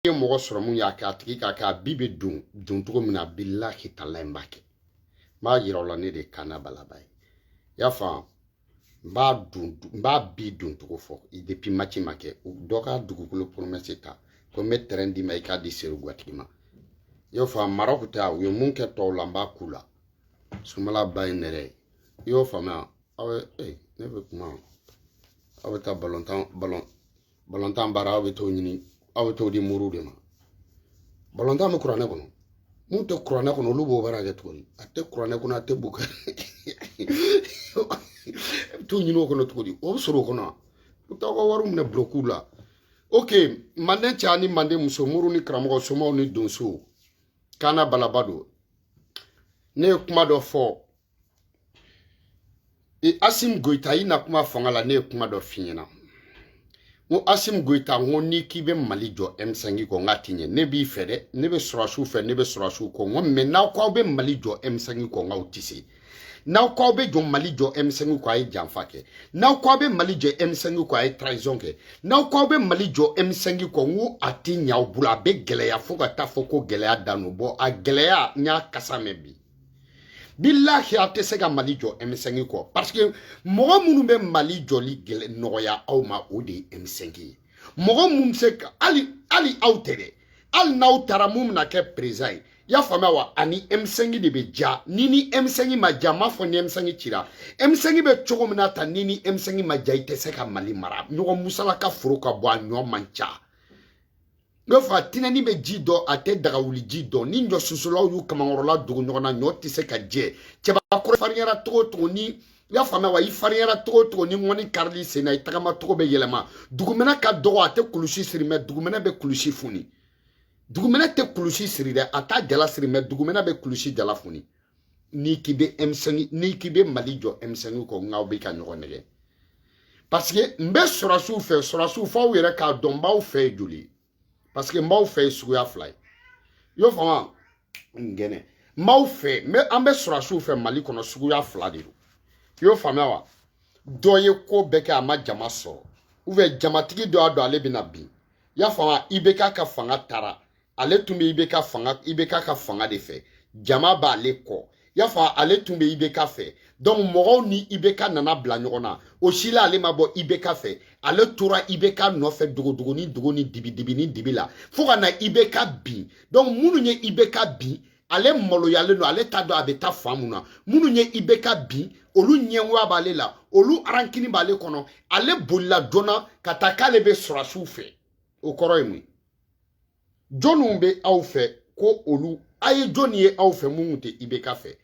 ye mɔgɔ sɔrɔ mun y'a kɛ a tigi k'a kɛ a bi bɛ don don cogo min na bilahi tala in b'a kɛ n b'a yira o la ne de ye kaana balaba ye i y'a faamu n b'a don n b'a bi don cogo fɔ depuis mati ma kɛ dɔ ka dugukolo promesse ta ko n bɛ terrain d'i ma i k'a di seriguwatigi ma i y'o faamu marɔku ta u ye mun kɛ tɔw la n b'a k'u la sunbala ba ye nɛrɛ ye i y'o faamuya aw ye ee ne bɛ kuma aw bɛ taa balontan balon balontan baara aw bɛ t'o ɲini aw bɛ t'o di moriw de ma balontan bɛ kuranɛ kɔnɔ mun tɛ kuranɛ kɔnɔ olu b'o baara kɛ tuguni a tɛ kuranɛ kɔnɔ a tɛ bu kɛ t'u ɲini o kɔnɔ cogo di o bɛ sɔrɔ o kɔnɔ u t'aw ka wariw minɛ bulokuw la ok manden cɛ ani manden muso moriw ni karamɔgɔ somaw ni donsow kaana balaba don ne ye kuma dɔ fɔ e asim goyita i na tuma fanga la ne ye kuma dɔ f'i ɲɛna n ko asim goyita n ko n'i k'i bɛ mali jɔ m5 kɔ n k'a ti ɲɛ ne b'i fɛ dɛ ne bɛ sɔrɔsiw fɛ ne bɛ sɔrɔsiw kɔ n ko mais n'aw ko aw bɛ mali jɔ m5 kɔ n k'aw ti se n'aw ko aw bɛ jɔ mali jɔ m5 kɔ a ye janfa kɛ n'aw ko aw bɛ mali jɔ m5 kɔ a ye trahison kɛ n'aw ko aw bɛ mali jɔ m5 kɔ n ko a ti ɲɛ aw bolo a bɛ gɛlɛya fo ka taa fɔ ko gɛlɛya dan don bɔn a gɛlɛya n y'a kasa mɛn bi bilahi a tɛ se ka mali jɔ M5 kɔ parce que mɔgɔ minnu bɛ mali jɔli gɛlɛ nɔgɔya aw ma o de ye M5 ye mɔgɔ minnu se ka hali hali aw tɛ dɛ hali n'aw taara min bɛna kɛ perezidan ye y'a faamuya wa ani M5 de bɛ ja ni ni M5 ma ja m'a fɔ ni M5 cira M5 bɛ cogo min na tan ni ni M5 ma ja i tɛ se ka mali mara ɲɔgɔn musalaka foro ka bon a ɲɔ man ca n bɛ fɔ a tinɛni bɛ ji dɔn a tɛ dagawuli ji dɔn ni ɲɔ susulaw y'u kamankɔrɔla dogo ɲɔgɔn na ɲɔ tɛ se ka jɛ cɛbakɔrɔ farinyara cogo cogo ni i y'a faamuya wa i farinyara cogo cogo ni ŋɔni karil'i sen na i tagama cogo bɛ yɛlɛma dugumɛnɛ ka dɔgɔ a tɛ kulusi siri mais dugumɛnɛ bɛ kulusi funi dugumɛnɛ tɛ kulusi siri dɛ a t'a jala siri mais dugumɛnɛ bɛ kulusi jala funi n'i k'i bɛ M5 n'i k'i bɛ mali jɔ M5 kɔ n k'aw bɛ ka ɲɔgɔn nɛgɛn parce que n bɛ sɔrɔsiw fɛ sɔrɔsiw fɔ aw yɛrɛ k'a dɔn n b'aw fɛ ye joli ye parce que n b'aw fɛ ye suguya fila ye i y'o faamu wa n gɛnɛ n b'aw fɛ n bɛ an bɛ sɔrɔsiw fɛ mali kɔnɔ suguya fila de don i y'o faamuya wa dɔ ye ko bɛɛ kɛ a ma jama sɔrɔ ou bien jamatigi dɔ y'a dɔn ale bɛna bin i y'a faamu wa IBK ka fanga taara ale tun bɛ IBK fanga IBK ka fanga de fɛ jama b'ale kɔ y'a fɔ ale tun bɛ IBK fɛ donc mɔgɔw ni IBK nana bila ɲɔgɔn na o si la ale ma bɔ IBK fɛ ale tora IBK nɔfɛ dogodogonin dogo ni dibidibinin dibi la fo ka na IBK bin donc minnu ye IBK bin ale maloyalen don ale t'a dɔn a bɛ taa fan mun na minnu ye IBK bin olu ɲɛngoya b'ale la olu rancune b'ale kɔnɔ ale bolila joona ka taa k'ale bɛ sɔrɔsiw fɛ o kɔrɔ ye mun ye jɔnniw bɛ aw fɛ ko olu a ye jɔnni ye aw fɛ minnu tɛ ibk fɛ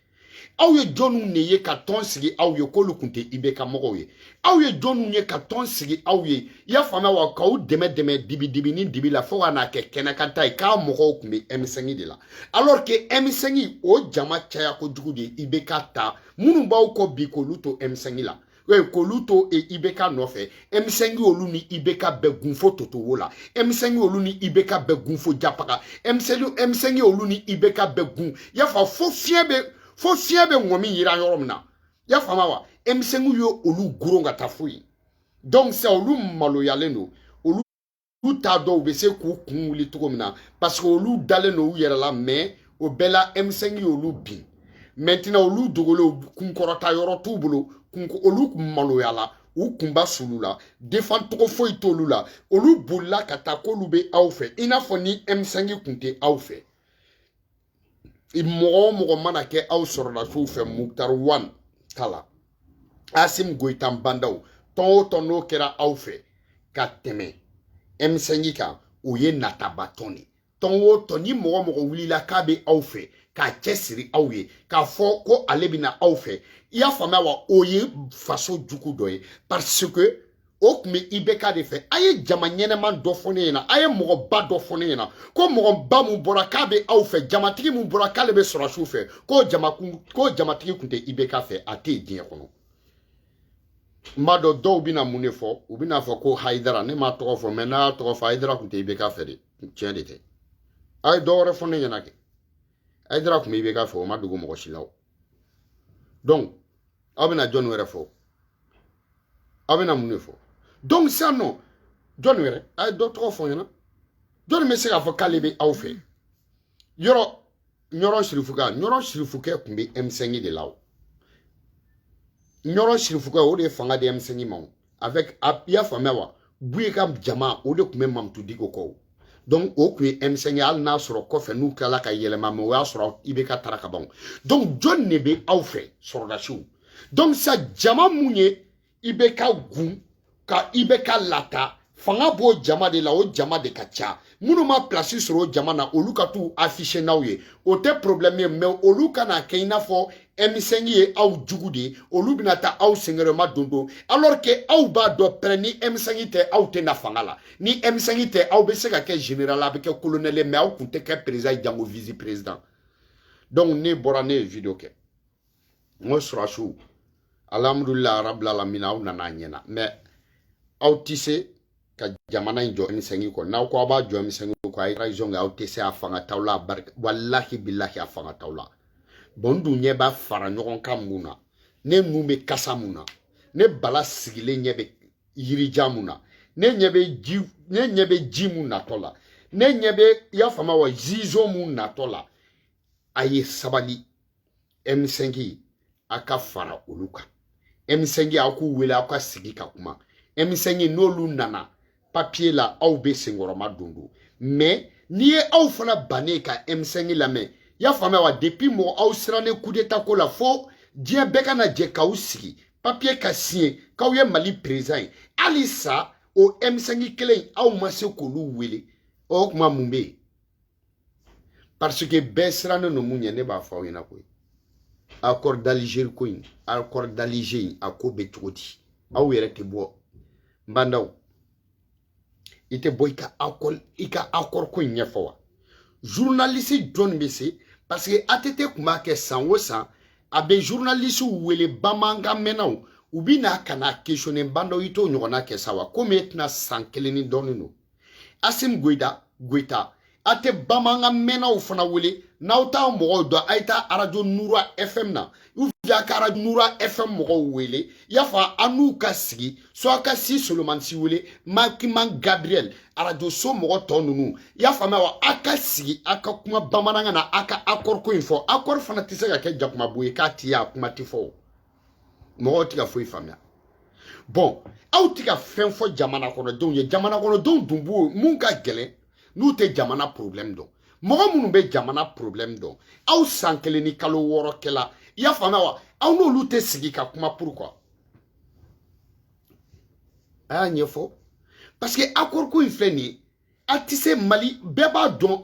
aw ye jɔnniw de ye ka tɔn sigi aw ye k'olu tun tɛ ibk mɔgɔw ye aw ye jɔnniw ye ka tɔn sigi aw ye i y'a faamuya wa k'aw dɛmɛ dɛmɛ dibidibi ni dibi la fo ka n'a kɛ kɛnɛkanta ye k'a mɔgɔw tun bɛ ɛmisɛngi de la alors que ɛmisɛngi o jama caya kojugu de ye ibk ta minnu b'aw kɔ bi k'olu to ɛmisɛngi la k'olu to IBK nɔfɛ M5 y'olu ni IBK bɛɛ gun fo toto wo la M5 y'olu ni IBK bɛɛ gun fo Japaga M5 M5 y'olu ni IBK bɛɛ gun y'a faamu fo fiɲɛ bɛ fo fiɲɛ bɛ ŋɔmi yiran yɔrɔ min na y'a faamu wa M5 ye olu goron ka taa fo yen donc sisan olu maloyalen don u t'a dɔn u bɛ se k'u kun wuli cogo min na parce que olu dalen don u yɛrɛ la mɛ o bɛɛ la m5 y'olu bin maintenant olu dogolen kunkɔrɔta yɔrɔ t'u bolo olu maloyala u kunba sulila defan cogo foyi t'olu la olu bolila ka taa k'olu bɛ aw fɛ i n'a fɔ ni m5 kun tɛ aw fɛ mɔgɔ o mɔgɔ mana kɛ aw sɔrɔdasiw fɛ mukutari wan ka la asimi goyita ba ndaw tɔn o tɔn n'o kɛra aw fɛ ka tɛmɛ ɛmisɛnji kan o ye nataba tɔn de tɔn o tɔn ni mɔgɔ o mɔgɔ wulila k'a bɛ aw fɛ k'a cɛsiri aw ye k'a fɔ ko ale bɛna aw fɛ i y'a faamuya wa o ye faso jugu dɔ ye parce que o tun bɛ ibeka de fɛ a ye jama ɲɛnama dɔ fɔ ne ɲɛna a ye mɔgɔba dɔ fɔ ne ɲɛna ko mɔgɔba min bɔra k'a bɛ aw fɛ jamatigi min bɔra k'ale bɛ sɔrɔdasiw fɛ k'o jamakun k'o jamatigi tun tɛ ibeka fɛ a tɛ yen diɲɛ kɔnɔ n b'a dɔn dɔw bɛna mun de fɔ u bɛna fɔ ko hayidara ne m'a tɔgɔ fɔ mɛ n'aw y'a tɔgɔ fɔ hayidara tun tɛ ibeka fɛ de tiɲɛ de tɛ a ye dɔ wɛrɛ fɔ ne ɲɛna kɛ hayidara tun bɛ ibeka fɛ o ma dogo mɔgɔ si la o donc aw bɛna jɔni wɛrɛ fɔ aw bɛna mun de fɔ donc sisan non jɔni wɛrɛ a ye dɔ tɔgɔ fɔ n ɲɛna jɔni bɛ se k'a fɔ k'ale bɛ aw fɛ yɔrɔ ɲɔrɔ sirifukɛ ɲɔrɔ sirifukɛ tun bɛ m5 de la o ɲɔrɔ sirifukɛ o de ye fanga di m5 ma o avec a i y'a faamuya wa buye ka jama o de tun bɛ mamutu diko kɔ o donc o tun ye m5 ye hali n'a sɔrɔ kɔfɛ n'u tilala ka yɛlɛma mɛ o y'a sɔrɔ ibk tara ka ban donc jɔni de bɛ aw fɛ sɔrɔdasiw donc sa jama min ye ibk gun ka ibk lata fanga b'o jama de la o jama de ka ca minnu ma pilasi sɔrɔ jama na olu ka t'u afficher n'aw ye o tɛ problɛmu ye mɛ olu kana kɛ i n'a fɔ emisɛngi ye aw jugu de ye olu bɛna taa aw sengɛrɛma don don alors que aw b'a dɔn pɛrɛ ni emisɛngi tɛ aw tɛ na fanga la ni emisɛngi tɛ aw bɛ se ka kɛ général aw bɛ kɛ colonel ye mɛ aw kun tɛ kɛ président jango vice président donc ne bɔra ne ye video kɛ n ko sɔrɔdasiw alhamdulila arabila lamina aw nana a ɲɛna mɛ aw tɛ se ka jamana in jɔ emisɛnki kɔ n'aw ko aw b'a jɔ emisɛnki kɔ a ye transition kɛ aw tɛ se a fanga t'aw la a barika walahi bilahi a fanga t'aw la bɔn n dun ɲɛ b'a fara ɲɔgɔn kan mun na ne nun bɛ kasa mun na ne bala sigilen ɲɛ bɛ yirija mun na ne ɲɛ bɛ ji ne ɲɛ bɛ ji mun natɔ la ne ɲɛ bɛ i y'a faamu wa zizo mun natɔ la a ye sabali emisɛnki a ka fara olu kan emisɛnki aw k'u wele aw ka sigi ka kuma emisɛnki n'olu nana papiye la aw bɛ senkɔrɔmadondon mɛ n'i ye aw fana bannen ka emisɛnki lamɛn y'a faamuya wa depi mɔgɔ aw sirannen kudeta ko la fo diɲɛ bɛɛ kana jɛ k'aw sigi papiye ka siɲɛ k'aw ye mali perezan ye halisa o emisɛnki kelen aw ma se k'olu wele o tuma mun bɛ yen parce que bɛɛ sirannen don mun ɲɛ ne b'a fɔ aw ɲɛna koyi accord d'Alger ko in accord d'Alger in a ko bɛ cogo di aw yɛrɛ tɛ bɔ Bah N'Daw i tɛ bɔ i ka accord i ka accord ko in ɲɛfɔ wa journaliste jɔn bɛ se parce que ATT tun b'a kɛ san o san a bɛ journalistew wele bamanankan mɛnnaw u bɛ na ka n'a questionner Bah N'Daw i t'o ɲɔgɔnna kɛ sa wa komi e tɛna san kelen ni dɔɔnin don asimi goyita goyita a tɛ bamanankan mɛnnaw fana wele n'aw t'a mɔgɔw dɔn a ye taa arajo nura fm na a ka arajo nura fm mɔgɔw wele i y'a fɔ aw n'u ka sigi so a ka si solomani si wele magma gabriel arajoso mɔgɔ tɔ ninnu i y'a faamuya wa a ka sigi a ka kuma bamanankan na a ka akɔriko in fɔ akɔri fana tɛ se ka kɛ jakumabo ye k'a tɛ ye a kuma tɛ fɔ o mɔgɔw tɛ ka foyi faamuya bɔn aw tɛ ka fɛn fɔ jamana kɔnɔdenw ye jamana kɔnɔdenw dun b'o mun ka gɛlɛn n'u tɛ jamana porobilɛmu dɔn mɔgɔ minnu bɛ jamana porobilɛmu dɔn aw san kelen ni kalo wɔɔrɔ kɛla i y'a faamuya wa aw n'olu tɛ sigi ka kuma pour que a y'a ɲɛfɔ parce que akɔriko in filɛ nin ye a tɛ se mali bɛɛ b'a dɔn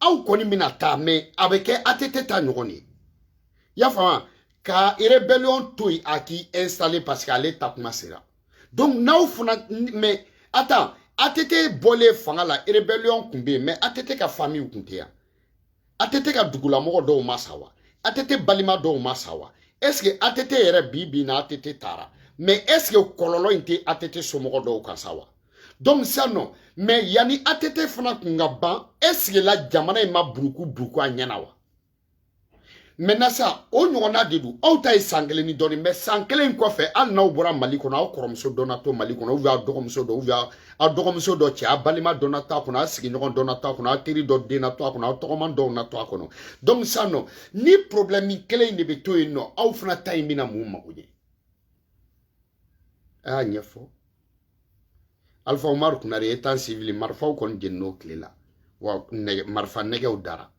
aw kɔni bɛna taa mɛ a bɛ kɛ ATT ta ɲɔgɔn ye y'a faamu ka rebellion to yen a k'i installer parce que ale taa kuma sera donc n'aw fana mɛ attends ATT bɔlen fanga la rebellion tun bɛ yen mɛ ATT ka famille tun tɛ yan ATT ka dugulamɔgɔ dɔw ma sa wa ATT balima dɔw ma sa wa est ce que ATT yɛrɛ bi bi na ATT taara mais est ce que kɔlɔlɔ in tɛ ATT somɔgɔ dɔw kan sa wa donc ça non mais yanni ATT fana kun ka ban est ce que la jamana in ma buruku buruku a ɲɛna wa maintenant sa o ɲɔgɔnna de don aw ta ye san kelen ni dɔɔni mais san kelen kɔfɛ hali n'aw bɔra mali kɔnɔ aw kɔrɔmuso dɔ na to mali kɔnɔ ou bien aw dɔgɔmuso dɔ ou bien a dɔgɔmuso dɔ cɛ a balima dɔ na to a kɔnɔ a sigiɲɔgɔn dɔ na to a kɔnɔ a teri dɔ den na to a kɔnɔ a tɔgɔman dɔw na to a kɔnɔ donc sisan nɔ ni problème kelen in de bɛ to yen nɔ aw fana ta in bɛna mun mago ɲɛ a y'a ɲɛfɔ alpha umaru konare étant civil marifaw kɔni jenin'o tile la wa nɛgɛ marifa nɛgɛw dara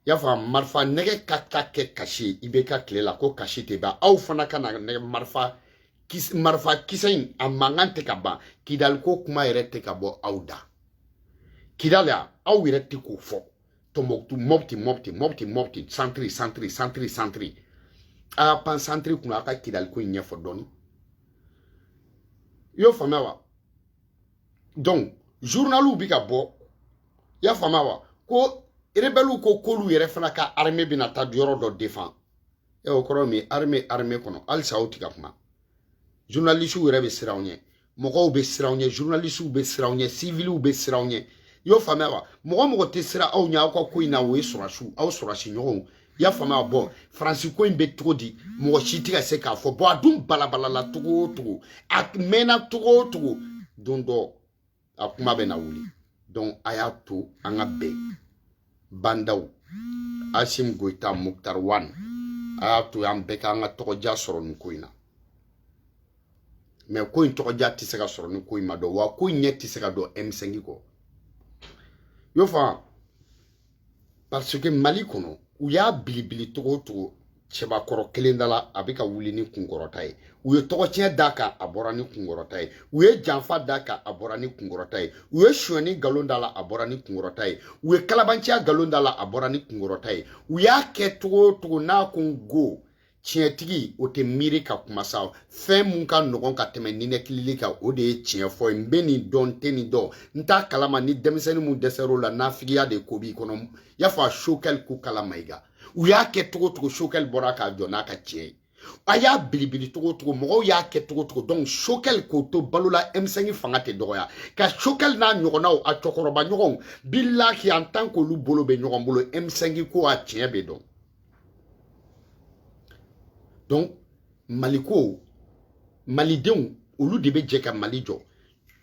y'a fɔ marifa nɛgɛ ka ka kɛ kasi IBK tile la ko kasi tɛ ban aw fana ka na nɛgɛ marifa kisi marifa kisɛ in a mankan tɛ ka ban kidaliko kuma yɛrɛ tɛ ka bɔ aw da kidali aw yɛrɛ tɛ k'o fɔ tɔnbɔkutu mɔputi mɔputi mɔputi mɔputi santiri santiri santiri santiri a y'a pan santiri kunna a ka kidaliko in ɲɛfɔ dɔɔni i y'o faamuya wa donc journaliw bi ka bɔ i y'a faamuya wa ko rebɛliw ko k'olu yɛrɛ fana ka armée bɛna taa yɔrɔ dɔ defan ɛ o kɔrɔ min armée armée kɔnɔ halisa aw ti ka kuma journalisiw yɛrɛ bɛ siran aw ɲɛ mɔgɔw bɛ siran aw ɲɛ journalisiw bɛ siran aw ɲɛ siviliw bɛ siran aw ɲɛ i y'o faamuya wa mɔgɔ o mɔgɔ tɛ siran aw ɲɛ aw ka ko in na o ye sɔrɔsiw aw sɔrɔsi ɲɔgɔnw i y'a faamuya bɔn faransi ko in bɛ cogo di mɔgɔ si tɛ ka se k'a fɔ bɔn a dun balabalala cogo o cogo a mɛnna cogo o cogo don dɔ a kuma bɛna wuli donc a y'a to an ka bɛn ba ndaw asim goyita muktar wan a y'a to an bɛɛ k'an ka tɔgɔdiya sɔrɔ nin ko in na mais ko in tɔgɔdiya tɛ se ka sɔrɔ ni ko in ma dɔn wa ko in ɲɛ tɛ se ka dɔn m5 kɔ y'o faamu parce que mali kɔnɔ u y'a bilibili cogo o cogo cɛbakɔrɔ kelen da la a bɛ ka wuli ni kunkɔrɔta ye u ye tɔgɔciyɛn d'a kan a bɔra ni kunkɔrɔta ye u ye janfa d'a kan a bɔra ni kunkɔrɔta ye u ye sonyani nkalon d'a la a bɔra ni kunkɔrɔta ye u ye kalabanciya nkalon d'a la a bɔra ni kunkɔrɔta ye u y'a kɛ cogo o cogo n'a ko n go tiɲɛtigi o tɛ miiri ka kuma sa fɛn mun ka nɔgɔn ka tɛmɛ ninɛkilili kan o de ye tiɲɛ fɔ ye n bɛ nin dɔn n tɛ nin dɔn n t'a kalama ni denmisɛnnin mun dɛsɛr'o la nafigiya de ko b'i kɔnɔ n y'a fɔ a sokɛli kokala mayiga u y'a kɛ cogo cogo sokɛli bɔra k'a jɔ n'a ka tiɲɛ ye a y'a bilibili cogo cogo mɔgɔw y'a kɛ cogo cogo donc sokɛli k'o to balo la emisɛngi fanga tɛ dɔgɔya ka sokɛli n'a ɲɔgɔnnaw a cɛkɔrɔba ɲɔgɔnw bilahi an tan k'olu bolo bɛ ɲɔgɔn bolo emisɛngi ko a tiɲɛ bɛ dɔn donc maliko malidenw olu de bɛ jɛ ka mali jɔ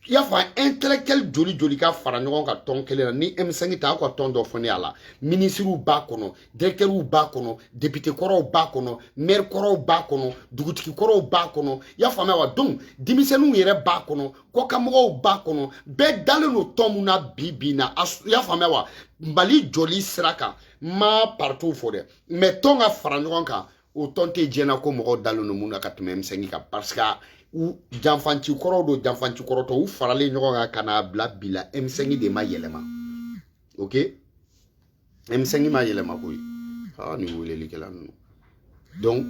i y'a fɔ intellectuel joli joli ka fara ɲɔgɔn kan tɔn kelen na ni M5 tɛ aw ka tɔn dɔ fɔ ne a la minisiriw b'a kɔnɔ directɛriw b'a kɔnɔ depite kɔrɔw b'a kɔnɔ maire kɔrɔw b'a kɔnɔ dugutigi kɔrɔw b'a kɔnɔ i y'a faamuya wa donc denmisɛnninw yɛrɛ b'a kɔnɔ kɔkanmɔgɔw b'a kɔnɔ bɛɛ dalen don tɔn mun na bi bi in na i y'a faamuya wa mali jɔli sira kan n ma parituw fɔ dɛ mais tɔn ka fara ɲɔgɔn kan o tɔn tɛ diɲɛ na ko mɔgɔw dalen don min na ka tɛmɛ M5 kan parce que u janfanci kɔrɔw don janfanci kɔrɔtɔ u faralen ɲɔgɔn kan ka n'a bila bi la M5 de ma yɛlɛma ok M5 ma yɛlɛma koyi aa nin welelikɛla ninnu donc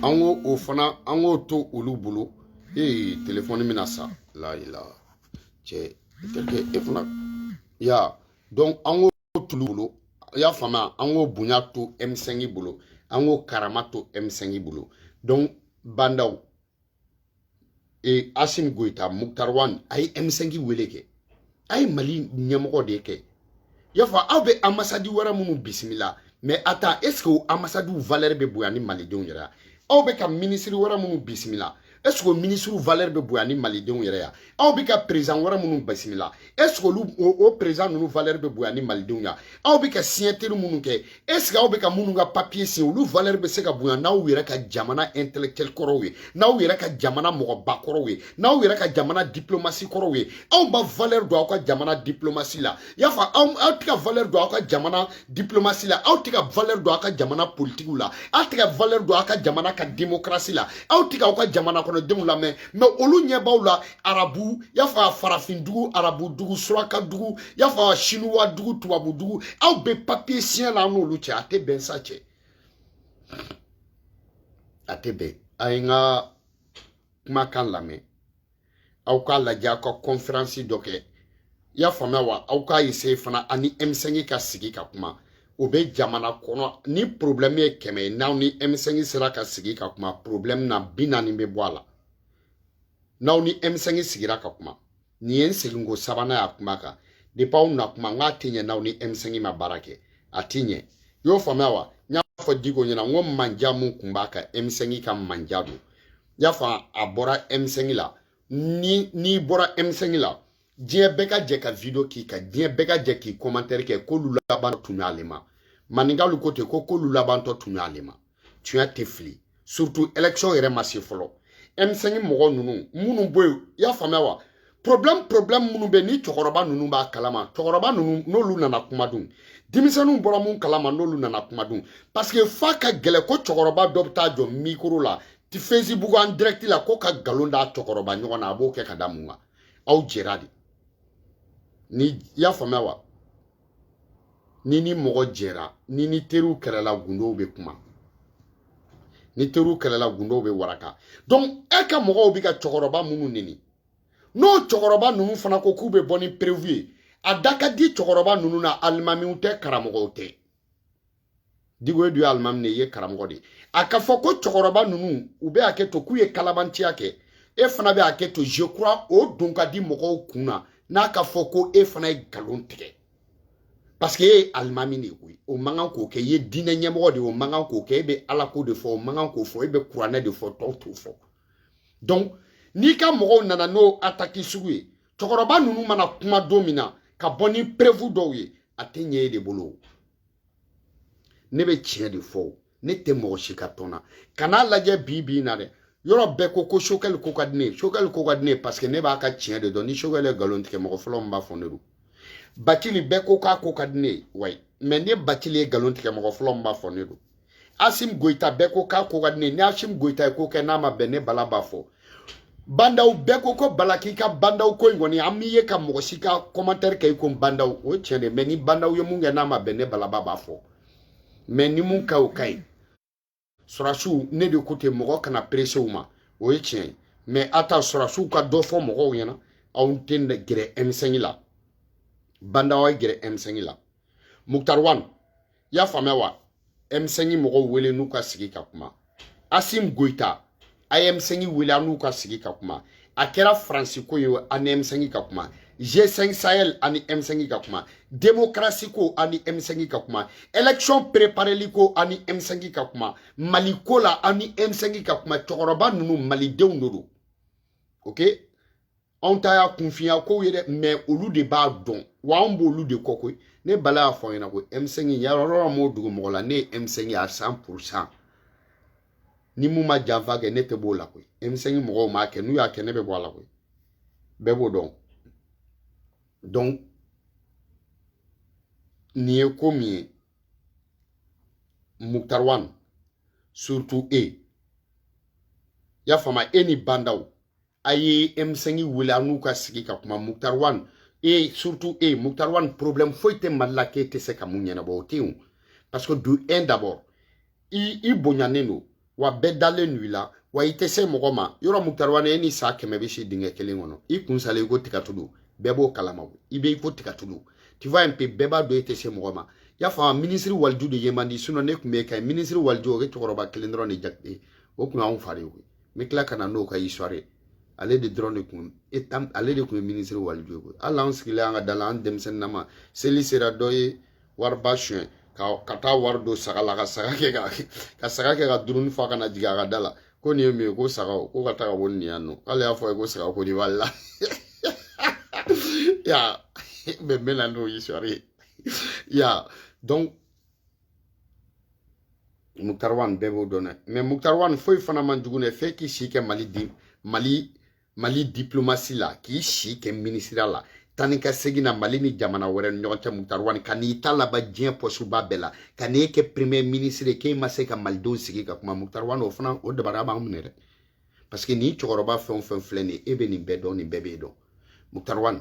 an ko o fana an k'o to olu bolo ee telefɔni bɛna sa layila cɛ i tɛ kɛ e fana ya donc an ko t'olu bolo i y'a faamuya an k'o bonya to M5 bolo an k'o karama to M5 bolo donc Ba Ndaw e Assimi Goita Moctar Ouane a ye M5 wele kɛ a ye Mali ɲɛmɔgɔ de kɛ i y'a fɔ aw bɛ ambassade wɛrɛ minnu bisimila mais a ta est-ce que o ambassadew valeur bɛ bonya ni malidenw yɛrɛ aw bɛ ka minisiri wɛrɛ minnu bisimila est-ce que minisiriw valeur bɛ bonya ni malidenw yɛrɛ ya aw bɛ ka président wɛrɛ minnu bisimila est-ce que olu o président ninnu valeur bɛ bonya ni malidenw ya aw bɛ ka signature minnu kɛ est-ce que aw bɛ ka minnu ka papiye siɲɛ olu valeur bɛ se ka bonya n'aw yɛrɛ ka jamana intellectuel kɔrɔw ye n'aw yɛrɛ ka jamana mɔgɔba kɔrɔw ye n'aw yɛrɛ ka jamana diplomasi kɔrɔw ye aw ma valeur don aw ka jamana diplomasi la i y'a fɔ aw tɛ ka valeur don aw ka jamana diplomasi la aw tɛ ka valeur don aw ka jamana politikiw la aw tɛ ka valeur don aw ka jamana ka démocratie la aw tɛ ka aw ka jamana kɔnɔ denw lamɛn mais olu ɲɛ b'aw la arabu i y'a fɔ a farafin dugu arabu dugu suraka dugu i y'a fɔ a sinuwa dugu tubabu dugu aw bɛ papiye siɲɛ la an n'olu cɛ a tɛ bɛn sa cɛ a tɛ bɛn a ye n ka kumakan lamɛn aw k'a lajɛ aw ka kɔnferansi dɔ kɛ i y'a faamuya wa aw k'a eseye fana ani M5 ka sigi ka kuma o bɛ jamana kɔnɔ ni porobilɛmu ye kɛmɛ ye n'aw ni M5 sera ka sigi ka kuma porobilɛmu na bi naani bɛ bɔ a la n'aw ni M5 sigira ka kuma nin ye n seginko sabanan y'a kuma kan depuis aw na kuma n k'a tɛ ɲɛ n'aw ni M5 ma baara kɛ a tɛ ɲɛ y'o faamuya wa n y'a fɔ Dicko ɲɛ na n ko manja min kun b'a ka M5 ka manja don n y'a fɔ a bɔra M5 la ni n'i bɔra M5 la diɲɛ bɛɛ ka jɛ ka video k'i kan diɲɛ bɛɛ ka jɛ k'i commentaire kɛ k'olu laban tun y'ale ma maninkaw ko ten ko k'olu labantɔ tun y'ale ma tiɲɛ tɛ fili surtout election yɛrɛ ma se fɔlɔ M5 mɔgɔ ninnu minnu bɔ yen i y'a faamuya wa problème problème minnu bɛ ni cɛkɔrɔba ninnu b'a kalama cɛkɔrɔba ninnu n'olu nana kuma dun denmisɛnninw bɔra mun kalama n'olu nana kuma dun parce que f'a ka gɛlɛn ko cɛkɔrɔba dɔ bɛ taa jɔ mikoro la ti facebook en direct la ko ka nkalon da cɛkɔrɔba ɲɔgɔn na a b'o kɛ ka da mun kan aw jɛra de ni i y'a faamuya wa ni ni mɔgɔ jɛra ni ni teriw kɛlɛla gundow bɛ kuma ni teriw kɛlɛla gundow bɛ waraka donc e ka mɔgɔw bɛ ka cɛkɔrɔba minnu neni n'o cɛkɔrɔba ninnu fana ko k'u bɛ bɔ ni preuve ye a da ka di cɛkɔrɔba ninnu na alimamiw tɛ karamɔgɔw tɛ diko e dun ye alimami de ye karamɔgɔ de a ka fɔ ko cɛkɔrɔba ninnu u bɛ hakɛ to k'u ye kalabanciya kɛ e fana bɛ hakɛ to je crois o don ka di mɔgɔw kun na n'a ka fɔ ko e fana ye nkalon tigɛ parce que e ye alimami de ye koyi o man kan k'o kɛ i ye diinɛ ɲɛmɔgɔ de ye o man kan k'o kɛ e bɛ ala ko de fɔ o man kan k'o fɔ e bɛ kuranɛ de fɔ tɔw t'o fɔ donc n'i ka mɔgɔw nana n'o ataki sugu ye cɛkɔrɔba ninnu mana kuma don min na ka bɔ ni preuve dɔw ye a tɛ ɲɛ e de bolo ne bɛ tiɲɛ de fɔ ne tɛ mɔgɔ si ka tɔn na kan'a lajɛ bi bi in na dɛ yɔrɔ bɛɛ ko ko sokɛli ko ka di ne ye sokɛli ko ka di ne ye paseke ne b'a ka tiɲɛ de dɔn ni sokɛli ye nkalon tigɛ mɔgɔ fɔlɔ min b'a fɔ ne don batili bɛɛ ko k'a ko ka di ne ye wayi mɛ ne batili ye nkalon tigɛ mɔgɔ fɔlɔ min b'a fɔ ne don asim goyita bɛɛ ko k'a ko ka di ne ni asim goyita ye ko kɛ n'a ma bɛn ne bala b'a fɔ bandaw bɛɛ ko ko bala k'i ka bandaw ko in kɔni an m'i ye ka mɔgɔ si ka kɔmantɛri kɛ i ko bandaw o ye tiɲɛ de mɛ ni bandaw ye mun kɛ n'a ma bɛn ne bala b'a fɔ mɛ ni mun ka o ka ɲi sɔrɔdasiw ne de ko ten mɔgɔ kana perese u ma o ye tiɲɛ ye mɛ a to sɔrɔdasiw ka dɔ fɔ mɔgɔw ɲɛna aw tɛ gɛrɛ m5 la bandaw ye gɛrɛ m5 la mukutari wan i y'a faamuya wa m5 mɔgɔw wele n'u ka sigi ka kuma asim goyita a ye m5 wele a n'u ka sigi ka kuma a kɛra faransi ko ye a ni m5 ka kuma g5 sahel a ni m5 ka kuma demokarasi ko a ni m5 ka kuma élection prepareli ko a ni m5 ka kuma mali ko la a ni m5 ka kuma cɛkɔrɔba ninnu malidenw de don ok anw ta y'a kunfinya kow ye dɛ mɛ olu de b'a dɔn wa anw b'olu de kɔ koyi ne bala y'a fɔ ɲɛna ko m5 yarɔrɔ m'o dugu mɔgɔ la ne ye m5 ye à cent pour cent ni mun ma janfa kɛ ne tɛ b'o la koyi m5 mɔgɔw m'a kɛ n'u y'a kɛ ne bɛ bɔ a la koyi bɛɛ b'o dɔn donc nin ye ko min ye muktar wan surtout e y'a faamuya e ni bandaw a ye m5 wele a n'u ka sigi ka kuma muktar wan e surtout e muktar wan problème foyi tɛ mali la k'e tɛ se ka mun ɲɛnabɔ o tɛ yen parce que de un d'abord i i bonyanen don wa bɛɛ dalen don i la wa i tɛ se mɔgɔ ma yɔrɔ muktar wan e ni saa kɛmɛ bɛ si dingɛ kelen kɔnɔ i kun sala i ko tigatulu bɛɛ b'o kalama i bɛ i ko tigatulu tu vois un peu bɛɛ b'a dɔn e tɛ se mɔgɔ ma y'a faamu minisiri waliju de ye man di sinon ne tun bɛ e ka ɲi minisiri waliju o ye cɛkɔrɔba kelen dɔrɔn de jate o tun y'anw fa de ye n bɛ tila ka na n'o ka histoire ye ale de dɔrɔn de kun ale de kun ye minisiri waliju ye koyi hali an sigilen an ka da la an denmisɛnnin nama seli sera dɔ ye wariba suɲɛ ka ka taa wari don saga la ka saga kɛ ka ka saga kɛ ka duruni fa ka na jigin a ka da la ko nin ye mun ye ko sagaw ko ka taa ka bɔ nin yan nɔ k'ale y'a fɔ a ye ko saga ko nin b'ale la ya mais n bɛ na n'o ye sɔɔni ya donc moctar ouane bɛɛ b'o dɔn dɛ mais moctar ouane foyi fana man jugu dɛ fɛn k'i si kɛ mali di mali mali diplomasi la k'i si kɛ minisiriya la taa ni ka segin na mali ni jamana wɛrɛ ni ɲɔgɔn cɛ moctar ouane ka n'i ta laban diɲɛ pɔsuba bɛɛ la ka n'e kɛ premier minisiri k'e ma se ka malidenw sigi ka kuma moctar ouane o fana o dabara b'an minɛ dɛ parce que ni cɛkɔrɔba fɛn o fɛn filɛ nin ye e bɛ nin bɛɛ dɔn nin bɛɛ b'e dɔn moctar ouane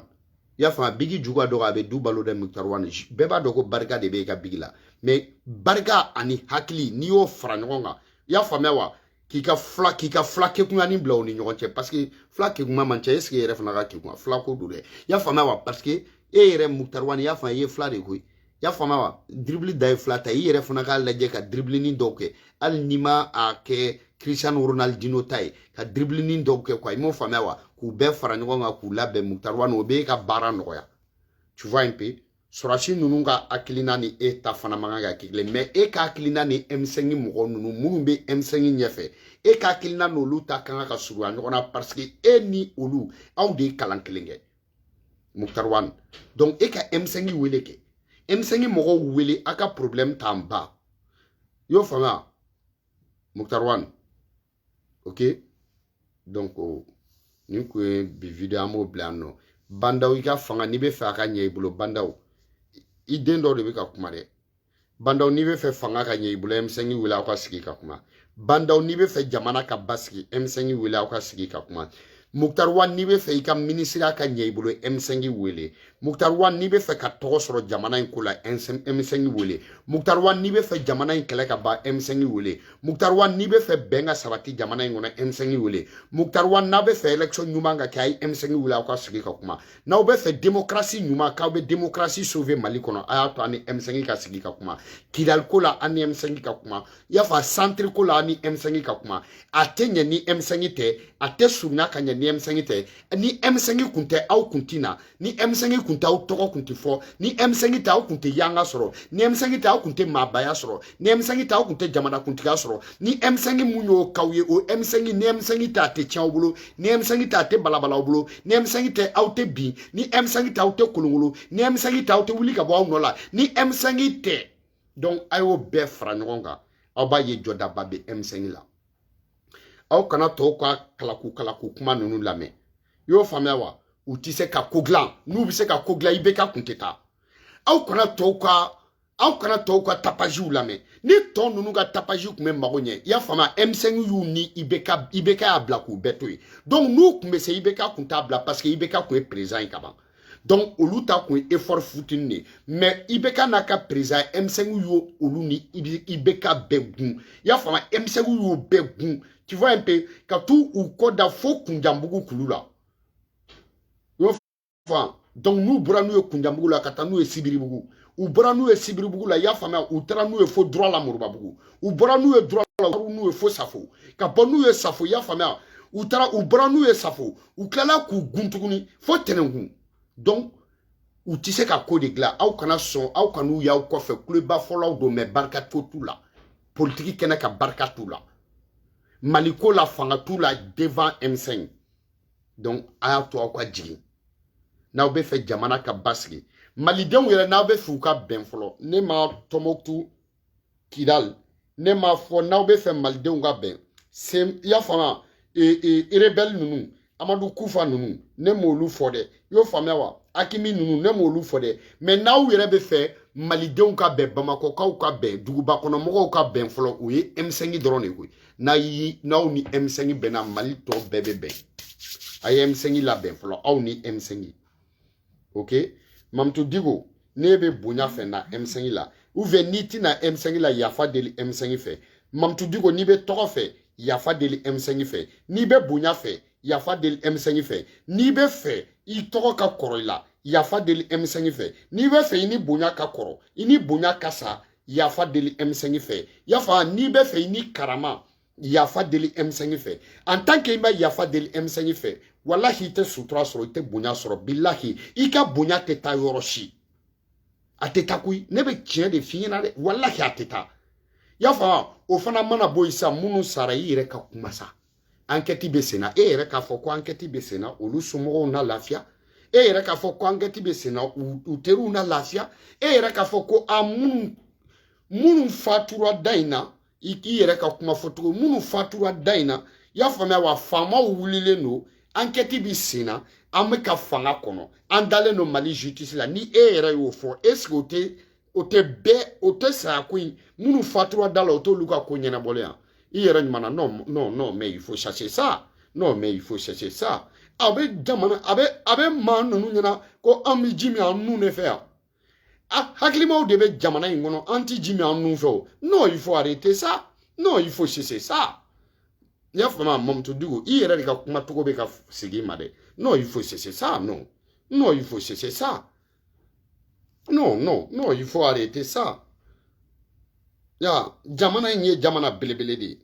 i y'a faamu bigi ju ka dɔgɔ a bɛ du balo dɛ moctar ouane bɛɛ b'a dɔn ko barika de bɛ e ka bigi la mais barika ani hakili n'i y'o fara ɲɔgɔn kan i y'a faamuya wa k'i ka fila k'i ka fila kekunyanin bila u ni ɲɔgɔn cɛ parce que fila kekunman man ca est-ce que e yɛrɛ fana ka kekun wa fila ko don dɛ i y'a faamuya wa parce que e yɛrɛ moctar ouane i y'a faamu i ye fila de koyi y'a faamuya wa dribili de ye fila ta i yɛrɛ fana k'a lajɛ ka dribilinin dɔw kɛ hali n'i ma a kɛ cristiano ronaldino ta ye ka dribilinin dɔw kɛ quoi i m'o faamuya wa k'u bɛɛ fara ɲɔgɔn kan k'u labɛn moctar ouane o b'e ka baara nɔgɔya tu vois un peu sɔrɔsi ninnu ka hakilina ni e ta fana man kan ka kɛ kelen mais e ka hakilina ni M5 mɔgɔ ninnu minnu bɛ M5 ɲɛfɛ e ka hakilina n'olu ta ka kan ka surunya ɲɔgɔn na parce que e ni olu aw de ye kalan kelen kɛ moctar ouane donc e ka M5 wele kɛ M5 mɔgɔw wele a ka problème t'an ba y'o faamuya moctar ouane ok donc nin kun ye bi video an b'o bila yan nɔ bah n'daw i ka fanga n'i bɛ fɛ a ka ɲɛ i bolo bah n'daw i den dɔw de bɛ ka kuma dɛ bah n'daw n'i bɛ fɛ fanga ka ɲɛ i bolo M5 wele aw ka sigi ka kuma bah n'daw n'i bɛ fɛ jamana ka basigi M5 wele aw ka sigi ka kuma moctar ouane n'i bɛ fɛ i ka minisiriya ka ɲɛ i bolo M5 wele moctar ouane n'i bɛ fɛ ka tɔgɔ sɔrɔ jamana in ko la M5 wele moctar ouane n'i bɛ fɛ jamana in kɛlɛ ka ban M5 wele moctar ouane n'i bɛ fɛ bɛn ka sabati jamana in kɔnɔ M5 wele moctar ouane n'a bɛ fɛ élection ɲuman ka kɛ a ye M5 wele aw ka sigi ka kuma n'aw bɛ fɛ démocratie ɲuman k'aw bɛ démocratie sauver mali kɔnɔ a y'a to an ni m5 ka sigi ka kuma kidali ko la an ni m5 ka kuma i y'a fɔ centre ko la an ni m5 ka kuma a tɛ ɲɛ ni m5 tɛ a tɛ surunya ka ɲɛ ni m5 tɛ ni m5 kun tɛ aw kun tɛ na ni m5 kun tɛ aw tɔgɔ kun tɛ fɔ ni m5 tɛ aw kun tɛ fanga sɔrɔ ni m5 tɛ aw kun tɛ maabaya sɔrɔ ni emisɛnki tɛ aw kun tɛ jamana kuntigiya sɔrɔ ni emisɛnki mun y'o k'aw ye o emisɛnki ni emisɛnki ta a tɛ tiɲɛ aw bolo ni emisɛnki ta a tɛ balabala aw bolo ni emisɛnki ta aw tɛ bin ni emisɛnki ta aw tɛ kolokolo ni emisɛnki ta aw tɛ wuli ka bɔ aw nɔ la ni emisɛnki tɛ donc a y'o bɛɛ fara ɲɔgɔn kan aw b'a ye jɔdaba bɛ emisɛnki la aw kana tɔw ka kalaku kalaku kuma ninnu lamɛn i y'o faamuya wa u tɛ se ka ko dilan n'u bɛ se ka ko dilan ibk kun tɛ taa aw kana tɔw ka aw kana tɔw ka tapaziw lamɛn ni tɔ ninnu ka tapaziw tun bɛ mago ɲɛ i y'a faamu m5 y'u ni ibk ibk y'a bila k'u bɛɛ to yen donc n'u tun bɛ se ibk kun t'a bila parce que ibk kun ye perezan ye kaban donc olu ta kun ye effort futini de ye mais ibk n'a ka perezan m5 y'o olu ni ibk bɛɛ gun i y'a faamu m5 y'o bɛɛ gun tu vois un peu ka t'u u kɔ da fo kunjanbugu kulu la fan donc n'u bɔra n'u ye kunjanbugu la ka taa n'u ye sibiribugu u bɔra n'u ye sibiribugu la i y'a faamuya u taara n'u ye fo dura la moribabugu u bɔra n'u ye dura la n'u ye fo safo ka bɔ n'u ye safo i y'a faamuya u taara u bɔra n'u ye safo u tilala k'u gun tuguni fo tɛnɛnkun donc u tɛ se ka ko de dilan aw kana sɔn aw kan'u y'aw kɔfɛ kuleba fɔlaw don mɛ barika ko t'u la politiki kɛnɛ kan barika t'u la mali ko la fanga t'u la devant m5 donc a y'a to aw ka jigin n'aw bɛ fɛ jamana ka basigi malidenw yɛrɛ n'aw bɛ fɛ u ka bɛn fɔlɔ ne ma tɔmɔkutu kidali ne ma fɔ n'aw bɛ fɛ malidenw ka bɛn se i y'a faamuya erebɛli ninnu amadu kufa ninnu ne m'olu fɔ dɛ i y'o faamuya wa aqmi ninnu ne m'olu fɔ dɛ mɛ n'aw yɛrɛ bɛ fɛ malidenw ka bɛn bamakɔkaw ka bɛn duguba kɔnɔ mɔgɔw ka bɛn fɔlɔ o ye m5 dɔrɔn de koyi n'a yi n'aw ni m5 bɛnna mali tɔ bɛɛ bɛ bɛn a ye m5 labɛn fɔlɔ aw ni m5 ok mamudu diko n'i bɛ bonya fɛ na m5 la ou bien n'i tɛna m5 la yafa deli m5 fɛ mamudu diko n'i bɛ tɔgɔ fɛ yafa deli m5 fɛ n'i bɛ bonya fɛ yafa deli emisɛnki fɛ n'i bɛ fɛ i tɔgɔ ka kɔrɔ i la yafa deli emisɛnki fɛ n'i bɛ fɛ i ni bonya ka kɔrɔ i ni bonya ka sa yafa deli emisɛnki fɛ yafa n'i bɛ fɛ i ni karama yafa deli emisɛnki fɛ en tant que i ma yafa deli emisɛnki fɛ walahi i tɛ sutura sɔrɔ i tɛ bonya sɔrɔ bilahi i ka bonya tɛ taa yɔrɔ si a tɛ taa koyi ne bɛ tiɲɛ de f'i ɲɛna dɛ walahi a tɛ taa y'a faamu o fana mana bɔ yen sisan minnu sara i yɛrɛ ka kuma sa ankɛti bɛ senna e yɛrɛ k'a fɔ ko ankɛti bɛ senna olu somɔgɔw na lafiya e yɛrɛ k'a fɔ ko ankɛti bɛ senna u teriw na lafiya e yɛrɛ k'a fɔ ko a minnu minnu fatura da in na i k'i yɛrɛ ka kuma fɔcogo minnu fatura da in na i y'a faamuya wa faamaw wulilen don ankɛti bɛ senna an bɛ ka fanga kɔnɔ an dalen don mali justice la ni e yɛrɛ y'o fɔ est ce que o tɛ o tɛ bɛɛ o tɛ saya ko in minnu fatura da la o t'olu ka ko ɲɛnabɔlen yan i yɛrɛ ɲuman non non non mais il faut cesser ça non mais il faut cesser ça a bɛ jamana a bɛ a bɛ maa ninnu ɲɛna ko an bɛ ji min an nun de fɛ yan a hakilimaw de bɛ jamana in kɔnɔ an tɛ ji min an nun fɛ o non il faut arrêter ça non il faut cesser ça n y'a faamu mamutu diko i yɛrɛ de ka kuma cogo bɛ ka segin i ma dɛ non il faut cesser ça non non il faut cesser ça Non, non, non, il faut arrêter ça. Ya, jamana in ye jamana belebele de ye.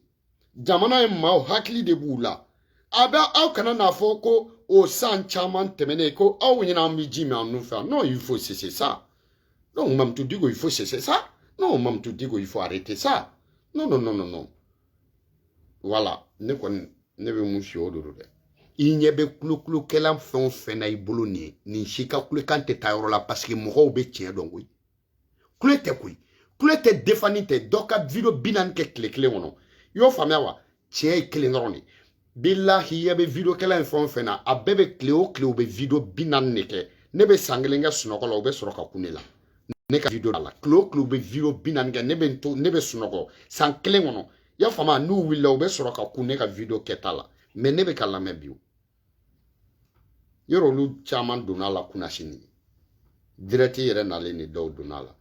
Jamana in maaw hakili de b'u la. A bɛ aw kana n'a fɔ ko o san caman tɛmɛnen ko aw ɲɛna an bɛ ji min an nun fɛ non il faut cesser ça. Donc Mamutu Diko il faut cesser ça. Non Mamutu Diko il faut arrêter ça. Non non non non non. wala ne kɔni ne bɛ mun si o de do dɛ i ɲɛ bɛ kulokulokɛla fɛn o fɛn na i bolo nin ye nin si ka kulekan tɛ taa yɔrɔ la paseke mɔgɔw bɛ tiɲɛ dɔn koyi kule tɛ koyi kule tɛ defani tɛ dɔ ka video bi naani kɛ tile kelen kɔnɔ i y'o faamuya wa tiɲɛ ye kelen dɔrɔn de ye bilahi i ɲɛ bɛ video kɛla in fɛn o fɛn na a bɛɛ bɛ tile o tile u bɛ video bi naani de kɛ ne bɛ san kelen kɛ sunɔgɔ la u bɛ sɔrɔ ka kun ne la ne ka video la tile o tile u bɛ video bi naani kɛ ne bɛ n to ne bɛ sunɔgɔ san kelen kɔnɔ i y'a faamu n'u wulila u bɛ sɔrɔ ka kun ne ka video kɛta la mɛ ne bɛ k'a lamɛn bi yɛrɛ olu caman donna a la kunasini dirɛti yɛrɛ nalen ni dɔw donna la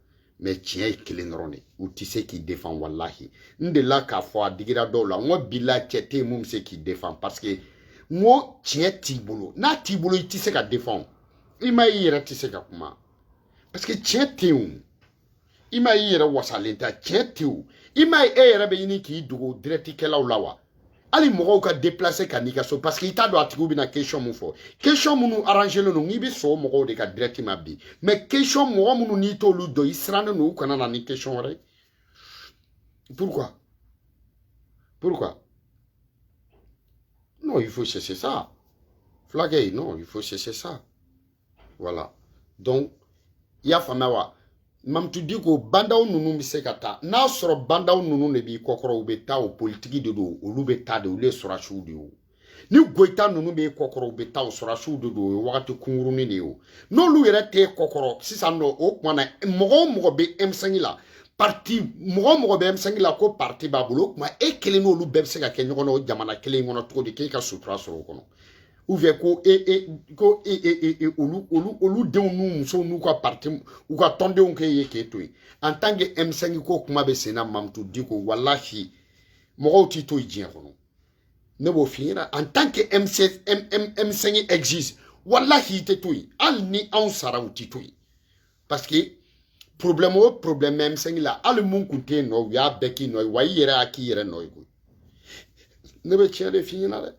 mɛ tiɲɛ ye kelen dɔrɔn de u tɛ se k'i defan walahi n delila k'a fɔ a digira dɔw la n ko bilahi cɛ tɛ yen min bɛ se k'i defan paseke n ko tiɲɛ t'i bolo n'a t'i bolo i tɛ se k'i defan imam i yɛrɛ tɛ se ka kuma paseke tiɲɛ tɛ yen o imam i yɛrɛ wasalen tɛ a cɛ tew imam e yɛrɛ b'a ɲini k'i dogo dirɛtikɛlaw la wa hali mɔgɔw ka déplacer ka n'i ka so parce que i t'a dɔn a tigiw bɛna question min fɔ question minnu arrangelen don i bɛ sɔn mɔgɔw de ka direct ma bi mais question mɔgɔ minnu n'i t'olu dɔn i sirannen don u kana na ni question wɛrɛ pourquoi pourquoi non il faut cesser ça fulakɛ non il faut cesser ça voilà donc i y'a faamuya wa mamutu diko ba ndaw ninnu bɛ se ka taa n'a sɔrɔ ba ndaw ninnu de b'i kɔkɔrɔ u bɛ taa o politiki de don olu bɛ taa de olu ye sɔrɔdasiw de ye o ni goyita ninnu b'i kɔkɔrɔ u bɛ taa o sɔrɔdasiw de don o ye wagati kunkurunin de ye o n'olu yɛrɛ t'i kɔkɔrɔ sisan nɔ o tuma na mɔgɔ o mɔgɔ bɛ M5 la parti mɔgɔ o mɔgɔ bɛ M5 la ko parti b'a bolo o tuma e kelen n'olu bɛɛ bɛ se ka kɛ ɲɔgɔn na o jamana kelen in kɔnɔ cogo di k'e ka sutura sɔrɔ o kɔnɔ ou bien ko e e ko e e e, e olu olu olu denw n'u musow n'u ka parti u ka tɔndenw k'e ka to yen en tant que M5 ko kuma bɛ senna Mamutu Diko walahi mɔgɔw t'i to yen diɲɛ kɔnɔ ne b'o f'i ɲɛna en tant que M6 M M M5 existe walahi i tɛ to yen hali ni anw sara u t'i to yen parce que problème o problème M5 la hali mun kun tɛ yen nɔ u y'a bɛɛ k'i nɔ ye wa i yɛrɛ y'a k'i yɛrɛ nɔ ye koyi ne bɛ tiɲɛ de f'i ɲɛna dɛ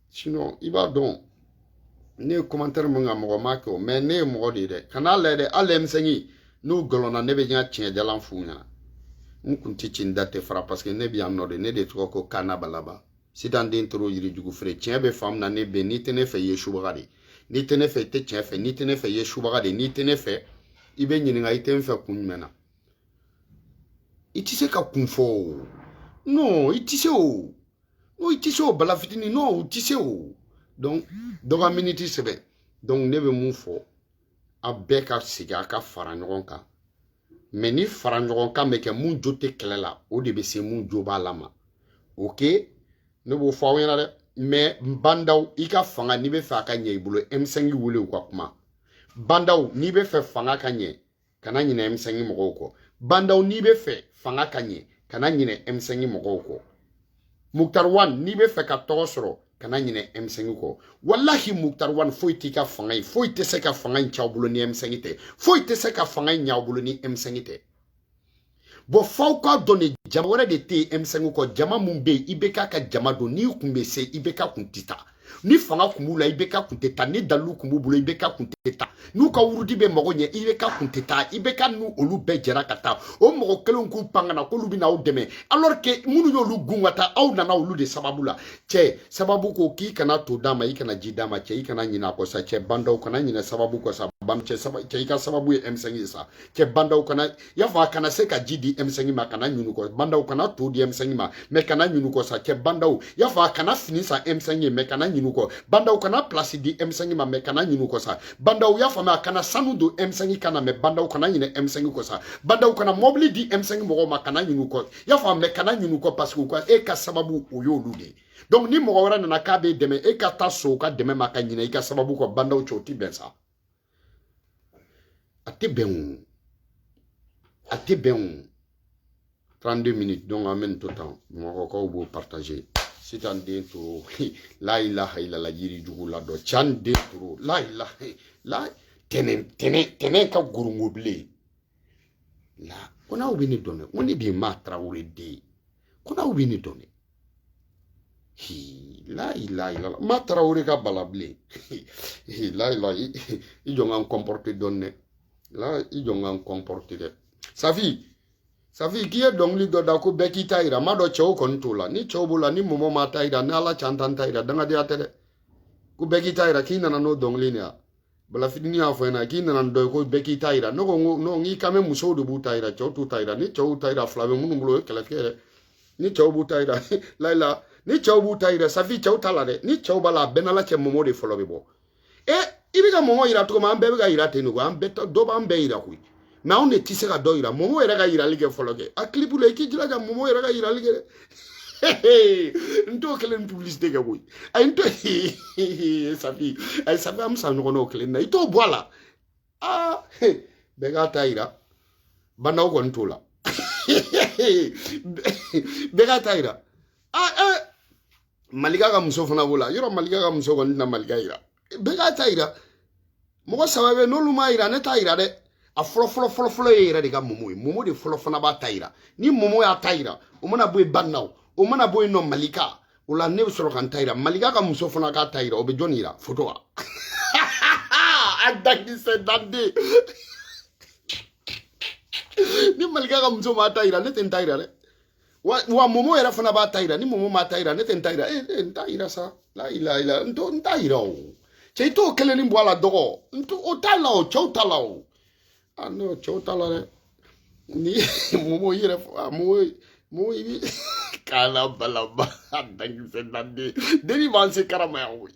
sinon i b'a dɔn ne ye commentaire min ka mɔgɔ ma kɛ o mais ne ye mɔgɔ de ye dɛ kan'a lajɛ dɛ hali M5 n'u galonna ne bɛ n ka tiɲɛ jalan f'u ɲɛna n kun tɛ ci n da tɛ fara parce que ne bɛ yan nɔ de ne de tɔgɔ ko kana balaba sitan den toro yirijugu feere tiɲɛ bɛ faamu na ne bɛ n'i tɛ ne fɛ i ye subaga de n'i tɛ ne fɛ i tɛ tiɲɛ fɛ n'i tɛ ne fɛ i ye subaga de n'i tɛ ne fɛ i bɛ ɲininka i tɛ n fɛ kun jumɛn na i tɛ se ka kun fɔ o non i tɛ se o non i tɛ se o bala fitinin non o tɛ se o donc dɔ ka miniti sɛbɛn donc ne bɛ mun fɔ aw bɛɛ ka segin a ka fara ɲɔgɔn kan mɛ ni fara ɲɔgɔn kan bɛ kɛ mun jo tɛ kɛlɛ la o de bɛ se mun jo b'a la ma o ke ne b'o fɔ aw ɲɛna dɛ mɛ bandaw i ka fanga n'i bɛ fɛ a ka ɲɛ i bolo M5 wele u ka kuma bandaw n'i bɛ fɛ fanga ka ɲɛ kana ɲinɛ M5 mɔgɔw kɔ bandaw n'i bɛ fɛ fanga ka ɲɛ kana ɲinɛ M5 mɔgɔw kɔ muktar wan n'i bɛ fɛ ka tɔgɔ sɔrɔ kana ɲinɛ M5 kɔ walahi muktar wan foyi t'i ka fanga ye foyi tɛ se ka fanga in c'aw bolo ni M5 tɛ foyi tɛ se ka fanga in ɲ'aw bolo ni M5 tɛ bon f'aw k'a dɔn de jama wɛrɛ de tɛ yen M5 kɔ jama mun bɛ yen IBK ka jama don n'i kun bɛ se IBK kun tɛ taa ni fanga kun b'u la IBK kun tɛ taa ni dalilu kun b'u bolo IBK kun tɛ taa n'u ka wurudi bɛ mago ɲɛ IBK kun tɛ taa IBK n'u olu bɛɛ jɛra ka taa o mɔgɔ kelenw k'u pan ka na k'olu bɛ na aw dɛmɛ alors que minnu y'olu gɛn ka taa aw nana olu de sababu la cɛ sababu ko k'i kana to d'a ma i kana ji d'a ma cɛ i kana ɲinɛ a kɔ sa cɛ bandaw kana ɲinɛ sababu kɔ sa ban cɛ saba cɛ i ka sababu ye M5 ye sa cɛ bandaw kana i y'a faamu kana se ka ji di M5 ma kana ɲin'u kɔ bandaw kana to di M5 ma mɛ kana ɲin'u kɔ sa cɛ bandaw i y'a fɔ a kana fini san M5 ye mɛ kana ɲin'u kɔ bandaw kana pilasi di M5 ma mɛ kana ɲin'u kɔ sa bandaw i y'a faamuya a kana sanu don M5 kan na mɛ bandaw kana ɲinɛ M5 kɔ sa bandaw kana mɔbili di M5 mɔgɔw ma kana ɲin'u kɔ i y'a fɔ mɛ kana ɲin'u kɔ parce que u ka e ka sababu o y'olu de ye donc ni mɔgɔ wɛrɛ nana k'a b'e dɛmɛ e ka taa so ka dɛmɛ ma ka ɲinɛ i ka sababu kɔ bandaw cɛ o ti bɛn sa a tɛ bɛn o a tɛ bɛn o 32 minutes donc an bɛ nin to tan bamakɔkaw b'o partager sitan den toro la ilaha ilala yiri jugu la dɔ can den toro la ilaha la tɛnɛn tɛnɛn tɛnɛn ka gorongo bilen la ko n'aw bɛ ne dɔn dɛ ko ne de ye maa tarawele den ye ko n'aw bɛ ne dɔn dɛ la ilaha ilala ma tarawele ka bala bilen layila i jɔ ka n kɔnpɔrite dɔɔni dɛ la i jɔ ka n kɔnpɔrite dɛ safi safi k'i ye dɔnkili dɔ da ko bɛɛ k'i ta yira n m'a dɔn cɛw kɔni t'o la ni cɛw b'o la ni mɔgɔ m'a ta yira ni ala can t'an ta yira dangadenya tɛ dɛ ko bɛɛ k'i ta yira k'i nana n'o dɔnkili nin ye bala fitini y'a fɔ n ɲɛ na k'i nana dɔ ye ko bɛɛ k'i ta yira ne ko n k'i kan bɛ musow de b'u ta yira cɛw t'u ta yira ni cɛw ta yira fila bɛ minnu bolo o ye kɛlɛ tigɛ dɛ ni cɛw b'u ta yira layila ni cɛw b'u ta yira safi cɛw t'a la dɛ ni cɛw b'a la a bɛ n n'ala cɛ momo de fɔlɔ bɛ bɔ e i bɛ ka momo yira cogo min an bɛɛ bɛ ka yira ten de koyi an bɛɛ dɔ b'an bɛɛ yira koyi mɛ anw de tɛ se ka dɔ yira momo yɛrɛ ka yirali kɛ fɔlɔ kɛ a kilipu la i k'i jilaja momo yɛrɛ ka yirali kɛ dɛ n t'o kelen ni publicité kɛ koyi a ye n to safi a ye safi an bɛ sa ɲɔgɔn na o kelen na i t'o bɔ a la aa bɛɛ k'a ta yira bandaw kɔni t'o la bɛɛ k'a ta yira aa malika ka muso fana b'o la yɔrɔ malika ka muso kɔni tɛna malika yira bɛɛ k'a ta yira mɔgɔ saba bɛ n'olu m'a yira ne t'a yira dɛ a fɔlɔ fɔlɔ fɔlɔ fɔlɔ ye i yɛrɛ de ka momo ye momo de fɔlɔ fana b'a ta yira ni momo y'a ta yira o mana bɔ yen banna o o mana bɔ yen nɔ malika o la ne bɛ sɔrɔ ka n ta yira malika ka muso fana k'a ta yira o bɛ jɔn yira foto wa a dakisɛ danden ni malika ka muso m'a ta yira ne tɛ n ta yira dɛ wa wa momo yɛrɛ fana b'a ta yira ni momo m'a ta yira ne tɛ n ta yira e e n t'a yira sa la ila ila n to n t'a yira o cɛ i t'o kelenni bɔ a la dɔgɔ n to o t'a la o cɛw t'a la o a n'o cɛw t'a la dɛ ni momo i yɛrɛ a momo momo i bi k'a la balaba a dankisɛ danden denni b'an se karama yan koyi